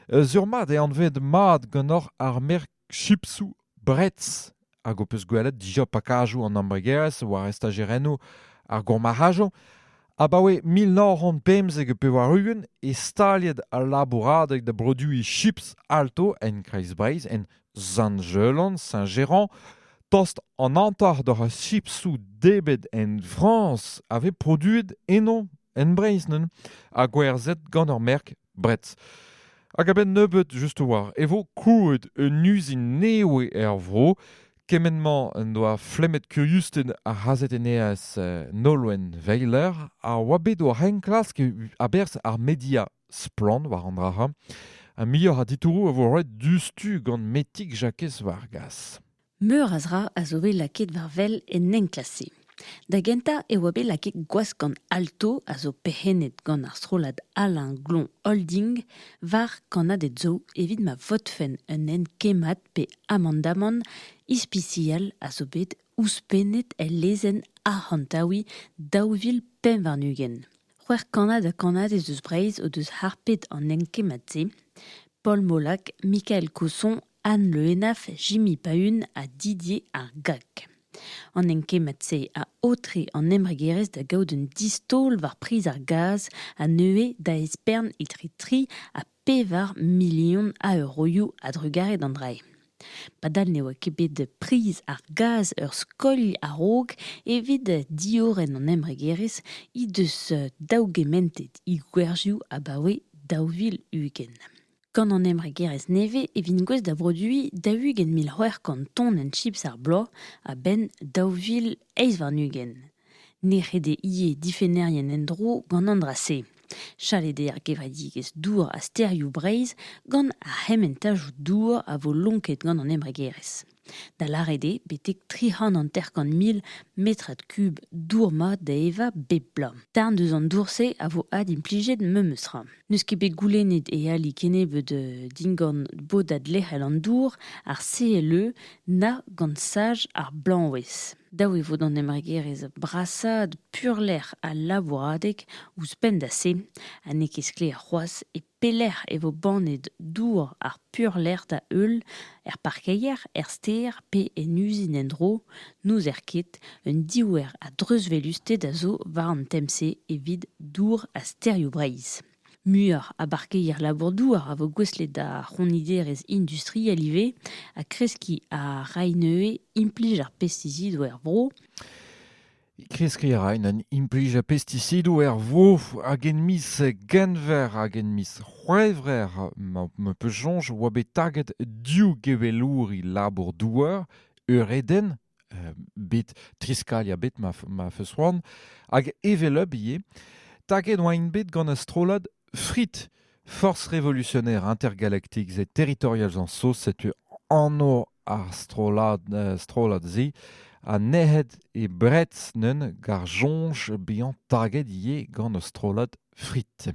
Sur-mat eo anvet mat ganeoc'h ar merk chipsoù Bretz hag ho peus gwelet dija pakajoù an embregerezh war estajerennoù ar gourmarc'hajoù. Abaoe mil nav c'hant pemzek ha pevar-ugent eo staliet al labouradeg da broduiñ chips Alto en Kreiz-Breizh, en Sant-Jelan, Saint-Géran. Tost an hanter d'hor chipsoù debet en Frañs a vez produet eno en Breizh neuze ha gwerzhet gant ur merk Bret. Hag a-benn nebeut, just war, e vo krouet un uzin newe er vro. Kement-mañ en doa flemmet kuriustenn ar c'hazetennerez eh, Nolwenn Weiler a oa bet o enklask a-berzh ar media splann war an dra-ha. Ha muioc'h a ditouroù a vo roet diouzhtu gant Metig Jakez Vargas. Meur a zra a zo bet lakaet war wel en enklask-se. Da gentañ e oa bet lakaet gwask gant Alto, a zo perc'hennet gant ar strollad Alain Glon Holding, war kannaded zo evit ma votfen un hent kemmat pe amandamant ispisial a zo bet ouzhpennet el lezenn arc'hantaouiñ daou vil pevar-ugent. C'hwec'h kannad ha kannadez eus Breizh o deus harpet an enkemmad-se, Paul Molac, Michael Cosson, Anne Le Henaff, Jimmy Paun ha Didier ar Gag. An enkemmad-se a aotre an embregerezh da gaout un distol war priz ar gaz ha neuze da espern etre tri ha pevar milion a euroioù a-drugarez d'an dra-se. Padal ne oa ket bet priz ar gaz ur skoilh a-raok evit diorren an embregerezh he deus daougementet he gwerzioù abaoe daou vil ugent. Gant an embregerezh nevez e vint gouest da broduiñ daou-ugent mil c'hwec'h kant tonenn chips ar bloaz a-benn daou vil eizh warn-ugent. Ne ret eo ivez difennerien en-dro gant an dra-se. Chalet eo ar gevredigezh dour ha stêrioù Breizh gant ar c'hementajoù dour a vo lonket gant an embregerezh. Da lâret eo betek tri c'hant hanter-kant mil metrad kub dour mat da evañ bep bloaz. Darn deus an dour-se a vo adimplijet memes tra. N'eus ket bet goulennet e ali kennebeut euh, dindan bodad lec'hel an dour, ar CLE, na gant saj ar blañwezh. Dav e vo d'an embregerezh brasaat peurlec'h al labouradeg ouzhpenn da se ha n'eo ket sklaer c'hoazh e pelec'h e vo bannet dour ar peurlec'h da-heul, er parkeier, er stêr pe en uzin en-dro. N'ouzer ket, un diouer a dreuzwelusted a zo war an tem-se evit dour ha stêrioù Breizh. Muioc'h a barkeier labour-douar a vo gouestlet d'ar c'honiderezh industriel ivez ha kreskiñ a ray neuze implij ar pestisidoù er vro. Kreskiñ a raen an implij a pestisidoù er vro hag en miz Genver hag en miz C'hwevrer ma peus soñj e oa bet taget div gevelouri labour-douar, Euredenn bet triskaliañ bet ma feus c'hoant hag hevelep ivez taget oaint bet gant ar strollad FRIT Force Révolutionnaire Intergalactique the Territorials and Sauce setu anv ar strollad strollad-se ha nec'het e Brets neuze gant soñj bezañ taget ivez gant ar strollad FRIT.